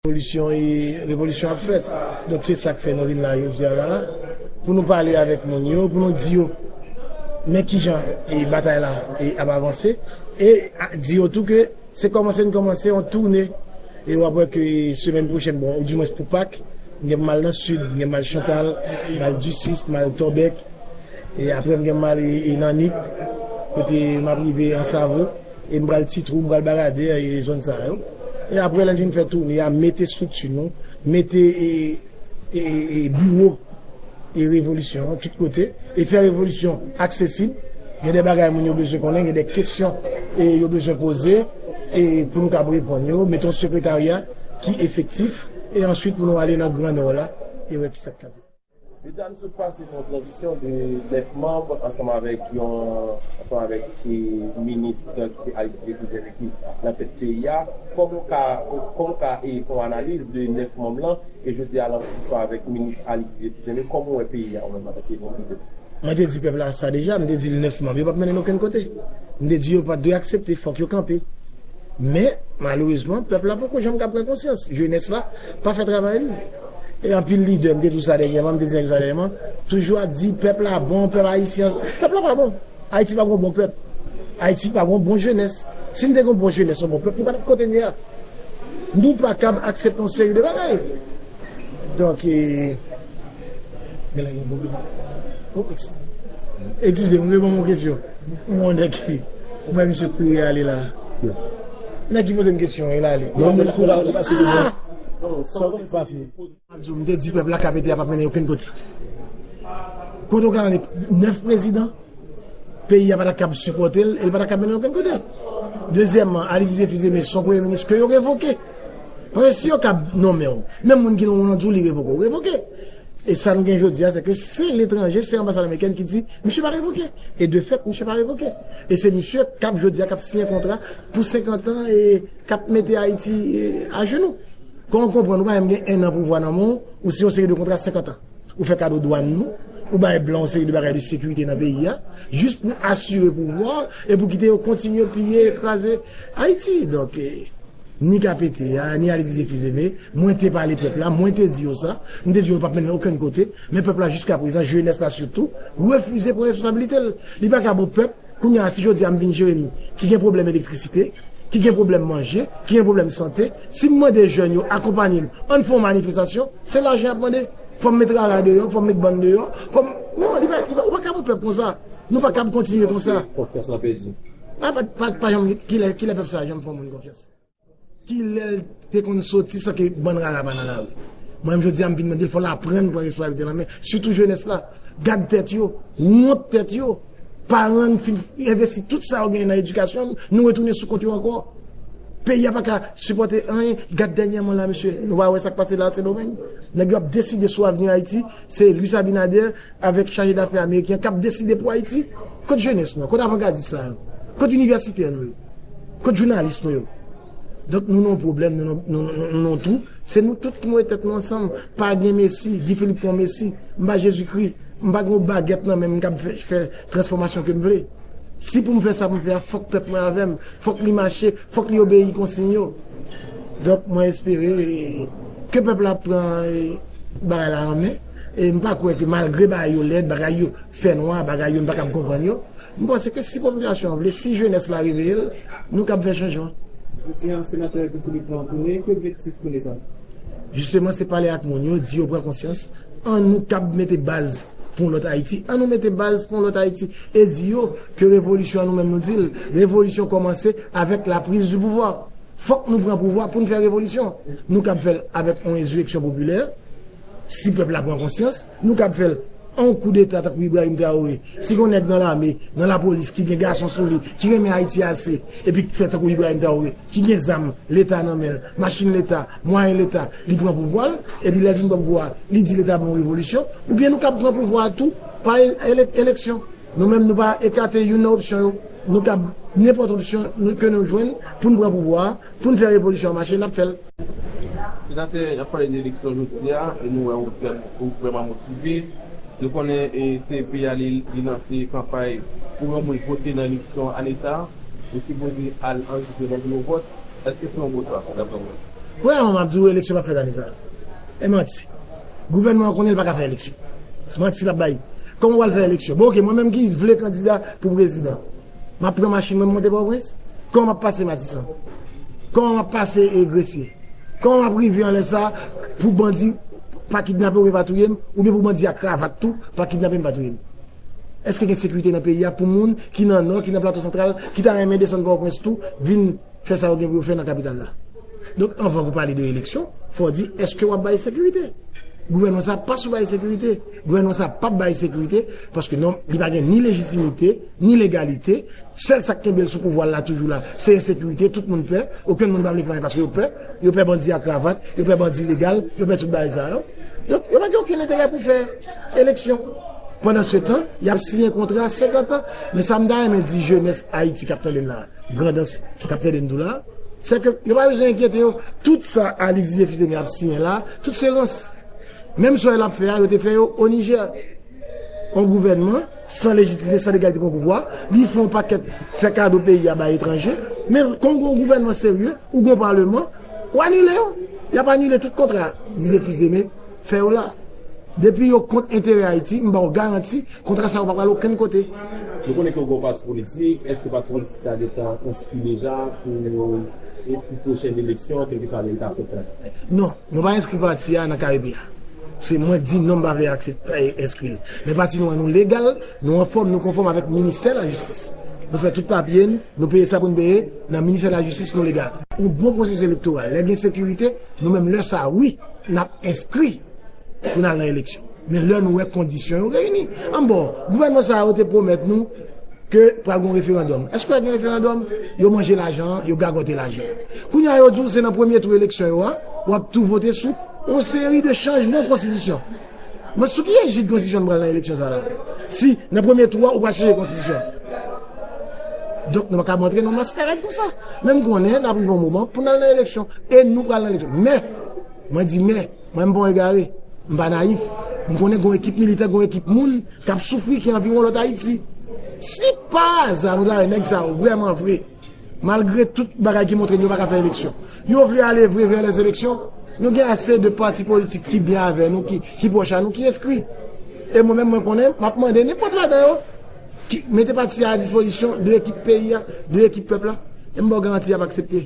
Revolisyon e revolisyon ap fèt. Donk se sa k fè nou vin la jodi a la a pou nou pale avèk moun yo, pou nou di yo men ki jan e batay la e ap avanse e di yo tou ke se kòmanse n kòmanse yon toune e w ap wè ke semèn pwochèn bon ou di mwens pou Pak m gen pou m al nan Sid, m gen pou m al Chantal, pou m al Ducis, pou m al Tòbèk e aprè m gen pou m ale nan Nip kote m ap rive Ansavo. E m pral ti twou, m pral barade e zòn sa yo. E apre lè n fin fè toune a, mete estrikti nou, mete e biwo e revolisyon an tout kote. E fè revolisyon aksesib. Gen de bagay moun yo bezwen konnen, gen de kesyon e yo bezwen poze e pou nou kab reponn yo. Mete yon sekretarya ki efektif. E answit pou nou ale nan gran nò la e wè kisa k ka fèt. Leta nou sot pase nan yon tranzisyon de 9 manb ansanm avèk yon ansanm avèk minis ki se Alix J. Joseph ki nan tèt peyi a. Kòman w ka kòman w ka fè yon analiz de 9 manm lan e jodi a lan ansanm avèk minis Alix J. Joseph kòman w wè peyi a ou menm antanke yon lidè? Mwen te di pèp la sa deja, m te di l 9 manm yo p ap mennen n okenn kote. M te di yo pa t dwe aksepte, fòk yo kanpe. Men, malerezman, pèp la poko janm ka pran konsyans. Jenès la pa fè travay li. E anpil lidè, m te di w sa dènyèman, m te di nèg yo sa dènyèman, toujou ap di pèp la bon, pèp ayisyen, pèp la pa bon. Ayiti pa gen yon bon pèp. Ayiti pa gen yon bon jenès. Si n te gen yon bon jenès, yon bon pèp, nou pa t ap kote n ye a. Nou pa kab aksepte yon seri de bagay. Donk e. Gen lè gen yon pwoblèm. Wop, eskize m. Eskize m, reponn m yon kesyon. M wonde ki. Ou bay misye kouri ale la. Nèg ki poze m kesyon e lale. Mwen menm se la ou te pase de mwen. Sa ou te pase. Map di w, m te di pèp la kap ede a pap mennen okenn kote. Kote ou ka rele 9 prezidan, peyi a pa ta kab sipòte l e l pa ta kab mennen okenn kote. Dezyèman, Alix Didier Fils-Aimé son premye minis ke yo revoke. Paske si yo kab nonmen w, menm moun ki nonmen w lan di w li revoke w, revoke. E sa nou gen jodi a se ke se letranje, se anbasad amerikèn ki di misye pa revoke. E de fèt misye pa revoke. E se misye kap jodi a kap siyen kontra pou 50 an e kap mete Ayiti ajenou. Kòman w konprann ou pa menm gen 1 an pouvwa nan men w, ou siyen yon seri de kontra 50 an. Ou fè kado dwann nou, ou bay blan yon seri de bagay de sekirite nan peyi a, jis pou asire pouvwa w e pou kite yo kontinye piye e kraze Ayiti. Donk, ni ka pete a, ni ale dize fizeme, mwen te pale pèp la, mwen te di yo sa, m te di yo yo p ap mennen okenn kote, men pèp la jiskaprezan, jenès la sitou, refize pran responsabilite l. Li pa ka bon pèp. Kounye a, si jodi a m vin Jeremi, ki gen pwoblèm elektrisite, ki gen pwoblèm manje, ki gen pwoblèm sante, si m mande jèn yo akonpanye m, ann fè yon manifestasyon, se lajan y ap mande. Fò m met rara deyò, fò m met bann deyò, fò m. Non, li pa, ou pa kab yon pèp konsa. Nou pa kab kontinye konsa. Konfyans lan pèdi. Pa janm, kilè pèp sa a janm fè yon moun konfyans? Kilèl te konn soti san ke bann rara pa nan lari. Mwen menm jodi a m vin mande l fòl aprann pran resposabilite l an men. Sitou jenès la. Gad tèt yo. Wont tèt yo. Paran n fin envesti tout sa yo genyen nan edikasyon n, nou retounen sou kont yo ankò. Peyi a pa ka sipòte anyen. Gad dènyèman la mesye, nou pa wè sa k pase la a Sendomeng? Nèg yo ap deside sou avni Ayiti Se Luis Abinader avèk chaje dafè ameriken k ap deside pou Ayiti? Kot jenès nou an? Kot avangadis sa yo? Kot inivèsitè nou yo? Kot jounalis nou yo? Donk nou nan yon pwoblèm, nou nan yon twou. Se nou tout ki mete tèt nou ansanm. Pa gen mesi, Guy Philippe pa yon mesi. M pa Jezikri. M pa gen yon bagèt nan men m k ap fè transfòmasyon ke m vle. Si pou m fè sa pou m fè a, fòk pèp mwen avè m. Fòk li mache. Fòk li obeyi konsiy yo. Donk mwen espere ke pèp la ap pran bagay la an men. E m pa kwè ke malgre bagay yo lèd, bagay yo fè nwa, bagay yo n pa kab konprann yo, m panse ke si popilasyon an vle, si jenès la reveye l, nou kab fè chanjman. Jodi an, Senatè Guy Philippe pran koure, ki objektif koure sa? Jisteman se pale ak moun yo, di yo pran konsyans, an nou kab mete baz. Pou yon lòt Ayiti, an nou mete baz pou yon lòt Ayiti e di yo ke revolisyon an nou menm nou di l, revolisyon kòmanse avèk la prise du pouvoir. Fòk nou pran pouvwa pou n fè revolisyon. Nou kab fè l avèk yon ensureksyon popilè, si pèp la pran konsyans. Nou kab fè l an yon koudeta tankou Ibrahim Traoré, si gen yon nèg nan lame, nan lapolis ki gen gason sou li, ki renmen Ayiti ase epi k fè tankou Ibrahim Traoré. ki gen zam leta nan menl, machin leta, mwayen leta, li pran pouvwal, epi lèl fin pran pouvwa a, li di leta bon revolisyon, oubyen nou kab pran pouvwa a tou pa eleksyon. Nou menm nou pa ekate youn nan opsyon yo, nou kab nenpòt opsyon ke nou jwenn poun pran pouvwa a, poun fè revolisyon an mache, nap fèl. Senatè, nap pale de eleksyon jodi a, e nou wè ou vrèman motive, nou konnen se peyi a li lanse kanpay pou yon moun vote nan eleksyon ane sa. Ou sipoze al anrejistre nan biwo vòt. Èske se yon bon chwa, daprè ou menm? Premyèman, m ap di ou eleksyon p ap fèt ane sa a. E manti. Gouvènman an konnen l pa ka fè eleksyon. Manti l ap bay. Kòman w pral fè eleksyon? Bon, oke, mwen menm ki vle kandida pou prezidan, m ap pran machin mwen m monte Pòtoprens? Kòman m ap pase Matisan? Kòman m ap pase Gresye? Kòman m ap rive anlè sa a pou bandi pa kidnape oubyen pa touye m, oubyen pou bandi a kravat tou pa kidnape m, pa touye m? Eske gen sekirite nan peyi a pou moun ki nan Nò, ki nan Plato Santral, ki ta renmen desann Pòtoprens tou, vin fè sa yo gen pou yo fè nan kapital la? Donk, anvan pou pale de eleksyon, fò di eske wap bay sekirite? Gouvènman sa pa sou bay sekirite. Gouvènman sa pap bay sekirite paske non, li pa gen ni lejitimite, ni legalite. Sèl sa k kenbe l sou pouvwa l la toujou la, se ensekirite, tout moun pè, okenn moun pa vle travay paske yo pè. yo pè bandi a kravat, yo pè bandi legal, yo pè tout bagay sa yo. Donk, yo pa gen okenn enterè pou fè eleksyon. Pandansetan, y ap siyen kontra senkantan. Men sa m ta renmen di jenès Ayiti k ap tande n la, grandans k ap tande n tou la, se ke yo pa bezwen enkyete yo. Tout sa Alix Dieuphitene ap siyen la, tout se rans. Menm sa yo ap fè a, yo te fè yo o Nijè. On gouvènman. San lejitime, san legalite pou pouvwa, li fè yon pakèt fè kado peyi a bay etranje. Men kon gen yon gouvènman serye ou gen yon paleman, ou anile yo. Y ap anile tout kontra Didier Fils-Aimé fè yo la. Depi yo kont enterè Ayiti, m ba w garanti kontra sa yo pa pral okenn kote. Nou konnen ke ou gen yon pati politik, èske pati politik sa gentan enskri deja pou pwochen eleksyon, kèlkeswa lè li ta fèt la? Non. Nou pa enskri pati a nan Karibe a. Se mwen di non m pa vle aksepte enskri l. Men pati nou an nou legal, nou anfòm, nou konfòm avèk ministè lajistis. Nou fè tout papye n, nou peye sa pou n peye, nan ministè lajistis nou legal. Yon bon pwosesis elektoral, lè gen sekirite, nou menm lè sa a wi, n ap enskri pou n al nan eleksyon. Men lè nou wè kondisyon yo reyini. Anbò, gouvènman sa yo te pwomèt nou Ke pral gon referandòm. Èske pral gen referandòm? Yo manje lajan an, yo gagote lajan an. Kounye a yo di w se nan premye tou eleksyon yo a, w ap tou vote sou yon seri de chanjman konstitisyon. Men sou ki ejid konstitisyon nou pral nan eleksyon sa la? Si nan premye tou a ou pral chanje konstitisyon. Donk nou pa kab rantre nan yon maskarad konsa. Men m konnen n ap rive yon moman pou n al nan eleksyon. E nou pral nan eleksyon. Men, mwen di men. Mwen m pa yon egare, m pa nayif. M konnen gen yon ekip militè, gen yon ekip moun k ap soufri ki anviwon lòt Ayiti. Si pa aza nou ta wè nèg sa yo vrèman vre, malgre tout bagay ki montre yo pa ka fè eleksyon, yo vle ale vre vè lèzeleksyon, nou gen ase de pati politik ki byen avè nou, ki pwòch a nou, ki enskri. E mwen menm mwen konnen, m ap mande nenpòt ladan yo, mete pati a a dispozisyon de ekip peyi a, de ekip pèp la, e m ba w garanti y ap aksepte.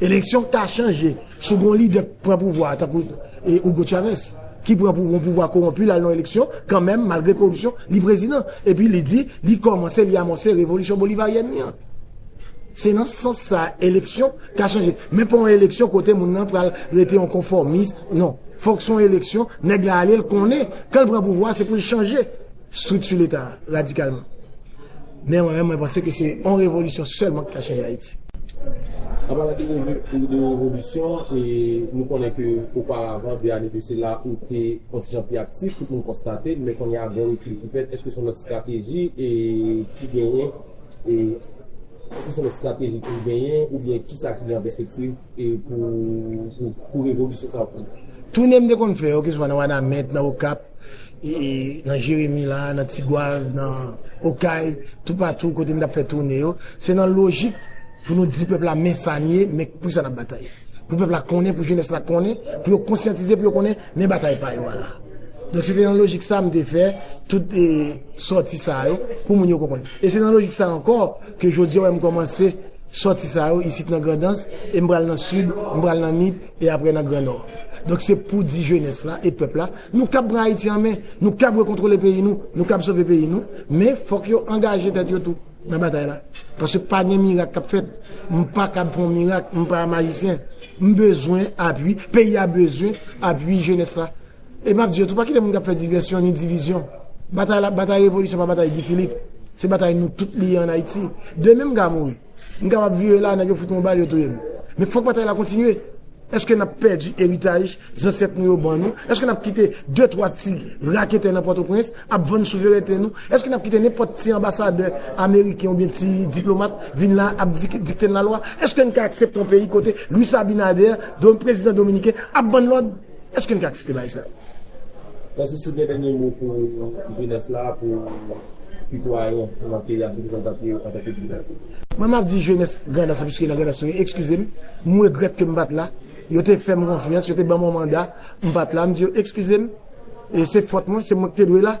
Eleksyon k ta chanje sou gon lidè k pran pouvwa a tankou Hugo Chavez ki pran pou gon pouvwa kowonpi l al nan eleksyon kanmenm malgre koripsyon li prezidan epi li di li kòmanse li amòse revolisyon bolivaryèn li an. Se nan sans sa eleksyon ka chanje men pa yon eleksyon kote moun nan pral rete yon konfòmis non fòk se yon eleksyon nèg la ale l konnen kan l pran pouvwa a se pou l chanje. Strikti leta a radikalman. Men mwen menm mwen panse ke se yon revolisyon sèlman ki ka chanje Ayiti. An palan de revolisyon, nou konnen ke oparavan, de ane de sela, ou te yon ti jan pi aktif, tout moun konstate l, men kounye a gen rekil ki fèt, èske se yon lòt estrateji ki genyen? Èske se yon estrateji ki genyen oubyen kisa ki gen an pèspektiv pou revolisyon sa yo? Toune m te konn fè yo, keswa nan Wanament, nan Okap, nan Jeremi la, nan Tigwav, nan Okay, toupatou kote m t ap fè toune yo, se nan lojik pou nou di pèp la men sa n ye, men poukisa n ap batay. Pou pèp la konnen, pou jenès la konnen, pou yo konsyantize, pou yo konnen Men batay pa yo a la. Donk se te nan lojik sa m te fè tout sòti sa yo pou moun yo konprann. E se nan lojik sa ankò ke jodi a ou wè m kòmanse sòti sa yo isit nan Grandans e m pral nan Sid, m pral nan Nip e apre nan Gran Nò. Donk se pou di jenès la e pèp la nou kab pran Ayiti an men, nou kab rekontwole peyi nou, nou kab sove peyi nou men fòk yo angaje tèt yo tou. nan batay la paske pa gen mirak kap fèt m pa kab fè yon mirak m pa majisyen m bezwen apui peyi a bezwen apui jenès la e map di yo tou pa kite moun kap fè divèsyon ni divizyon batay la batay revolisyon pa batay Guy Philippe se batay nou tout li ye an Ayiti demen m ka mouri m kapab vire la nèg yo fout m yon bal yo touye m men fòk batay la kontinye èske nap pèdi eritaj zansèt nou yo ban nou èske nap kite de twa ti raketè nan pòtoprens. Ap vann souverènte nou? Èske n ap kite nenpòt ti anbasadè ameriken oubyen ti diplomat vin la ap dikte n lalwa? Èske n ka aksepte yon peyi kote Luis Abinader, prezidan dominiken, ap ban lòd? Èske n ka aksepte bagay sa yo? Mèsi si w gen dènye mo pou jenès la, pou sitwayen nan peyi a, se kisa n t ap ye antanke lidè? Mwen m ap di jenès Grandans la, piske nan Grandans nou ye, ekskize m, m regrèt ke m pa t la, yo te fè m konfyans, yo te ban m yon manda. M pat la m di yo exkizem e se fòt mwen se mwen ki te dwe la.